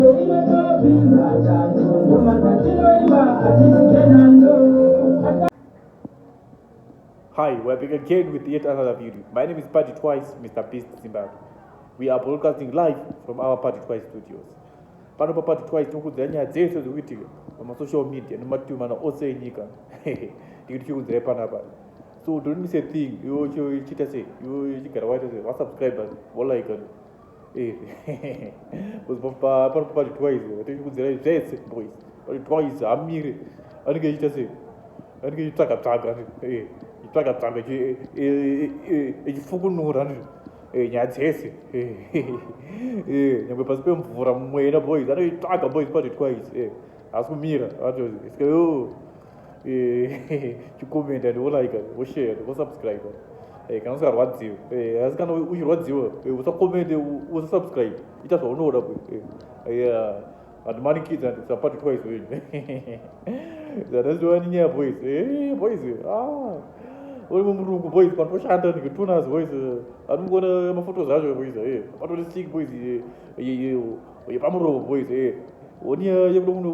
Hi, we're back again with yet another video. My name is Party Twice, Mr. Beast Zimbabwe. We are broadcasting live from our Party Twice studios. Pano pa Party Twice tinokudzira nyaya dzese dziri kuitika pamasocial media nemativi mana ose enyika. Ndikuti tikudzirai panapa. So don't miss a thing. Iwe uchiita sei? Iwe uchigara waita sei? Wasubscribe, walike. Eh, pari pari twice tiri kudzira zvese boys pari twice amire anenge echiita sei anenge echitsvaga tsvaga eh, echitsvaga tsvaga eh, echifukunura nyaya dzese nyangwe pasi pemvura mwena boys anoitsvaga boys pari twice asi kumira atozi oh, eh, chikomenti and wolike woshare wosubscribe eh, kana usingarwadziwe eh, asi kana uchirwadziwa usakomende usasubscribe ita zvaunoda vandimanikidza ndisapati twice wenyu zvandaziwani nyaya boys boys ah, uri mumurungu boys pandoshanda ndikitunas boys anongona mafotos acho boys patori sik boys yepamuromo boys onia yekuda